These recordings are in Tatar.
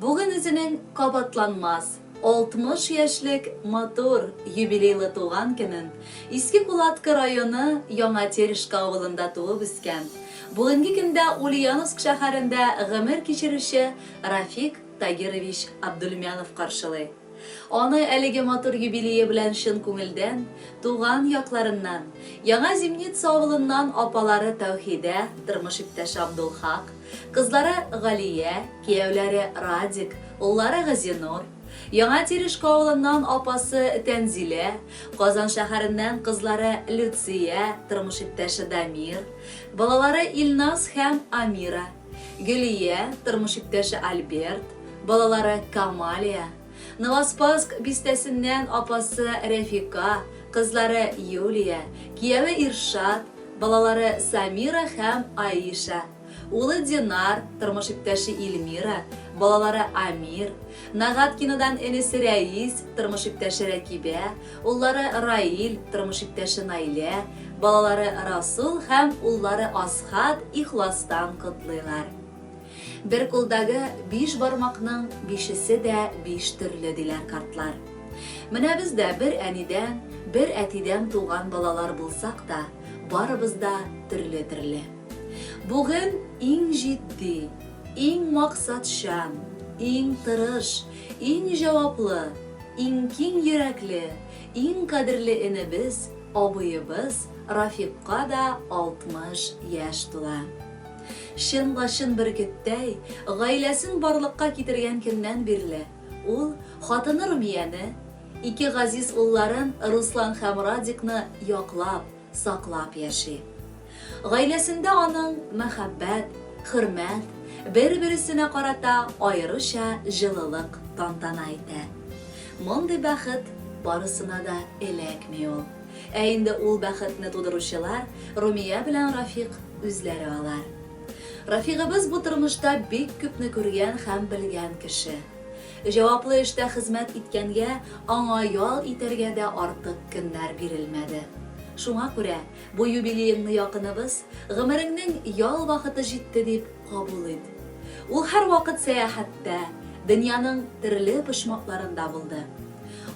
Бүген үзенең кабатланмас, 60 яшьлек матур, юбилейлы туган көнен Иске Кулаткы районы Яңа Терешка авылында туып үскән, бүгенге көндә Ульяновск шәһәрендә гомер кичерүче Рафик Тагирович Абдульмянов каршылый. Аны әлеге матур юбилее белән чын күңелдән, туган якларыннан, Яңа Зимница авылыннан апалары Тәүхидә, тормыш иптәше Абдулхак, Кызлары Галия, кияүләре Радик, уллары Газинур, Яңа Тирешкә авылыннан апасы Тәнзилә, Казан шәһәреннән кызлары Люция, тормыш иптәше Дамир, балалары Илназ һәм Амира, Гөлия, тормыш иптәше Альберт, балалары Камалия, Новоспасск бистәсеннән апасы Рәфика, кызлары Юлия, кияве Иршат, балалары Самира һәм Аиша, улы Динар, тормыш иптәше Ильмира, балалары Амир, Нагаткинодан энесе Рәис, тормыш иптәше Рәкибә, уллары Раил, тормыш иптәше Наилә, балалары Расул һәм уллары Асхат ихластан котлыйлар. Бер кулдагы биш бармакның бишесе дә биш төрле, диләр картлар. Менә без дә бер әнидән, бер әтидән туган балалар булсак та, барыбыз да төрле-төрле. Бүген иң җитди, иң максатчан, иң тырыш, иң җаваплы, иң киң йөрәкле, иң кадерле энебез, абыебыз Рафикка да 60 яшь тула. Чын лачын бөркеттәй, гаиләсен барлыкка китергән көннән бирле, ул хатыны Румияне, ике газиз улларын Руслан һәм Радикны яклап, саклап яши. Гаиләсендә аның мәхәббәт, хөрмәт, бер-бересенә карата аеруча җылылык тантана итә. Мондый бәхет барысына да эләкми ул. Ә инде ул бәхетне тудыручылар, Румия белән Рафик үзләре алар. Рафигыбыз бу тормышта бик күпне күргән һәм белгән кеше. Җаваплы эштә хезмәт иткәнгә, аңа ял итәргә дә артык көннәр бирелмәде. Шуңа күрә бу юбилееңне якыныбыз, гомереңнең ял вакыты җитте дип кабул ит. Ул һәрвакыт сәяхәттә, дөньяның төрле почмакларында булды.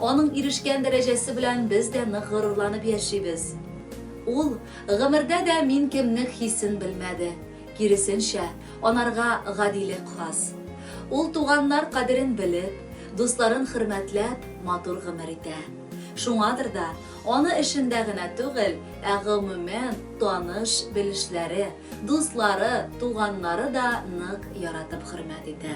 Аның ирешкән дәрәҗәсе белән без дә нык горурланып яшибез. Ул гомердә дә мин кемнек хисен белмәде, киресенчә, анарга гадилек хас. Ул туганнар кадерен белеп, дусларын хөрмәтләп, матур гомер итә. Шуңадыр да, аны эшендә генә түгел, ә гомумән, таныш, белешләре, дуслары, туганнары да нык яратып хөрмәт итә.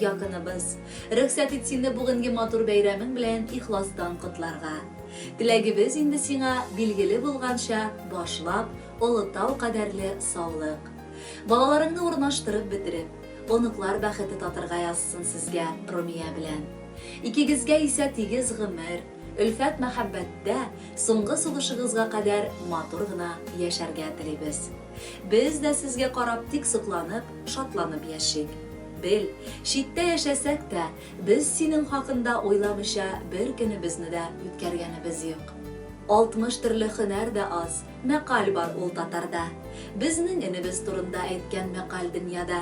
Якыныбыз. Рөхсәт ит сине бүгенге матур бәйрәмең белән ихластан котларга. Теләгебез инде сиңа, билгеле булганча, башлап, Олы Тау кадәрле саулык. Балаларыңны урнаштырып бетереп, оныклар бәхете татырга язсын сезгә Румия белән. Икегезгә исә тигез гомер, өлфәт-мәхәббәттә, соңгы сулышыгызга кадәр матур гына яшәргә телибез. Без дә сезгә карап тик сокланып, шатланып яшик. Бел, читтә яшәсәк тә, без синең хакында уйламыйча бер көнебезне дә үткәргәнебез юк. 60 төрле хөнәр дә аз, мәкаль бар ул татарда. Безнең энебез турында әйткән мәкаль дөньяда.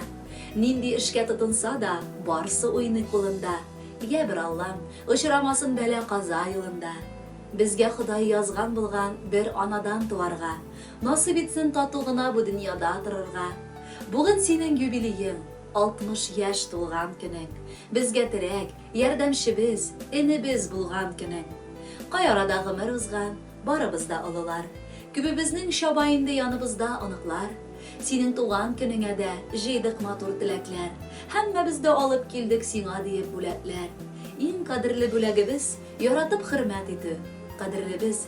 Нинди эшкә тотынса да, барсы уйный кулында. Йә, бер Аллам, очрамасын бәла-каза юлында. Безгә Ходай язган булган бер анадан туарга. Насыйп итсен тату гына бу дөньяда торырга. Бүген синең юбилеең, 60 яшь тулган көнең, безгә терәк, ярдәмчебез, энебез булган көнең. Кай арада гомер узган, барыбыз да олылар. Күбебезнең чаба инде яныбызда оныклар. Синең туган көнеңә дә җыйдык матур теләкләр. Һәммәбез дә алып килдек сиңа диеп бүләкләр. Иң кадерле бүләгебез, яратып хөрмәт итү. Кадерлебез,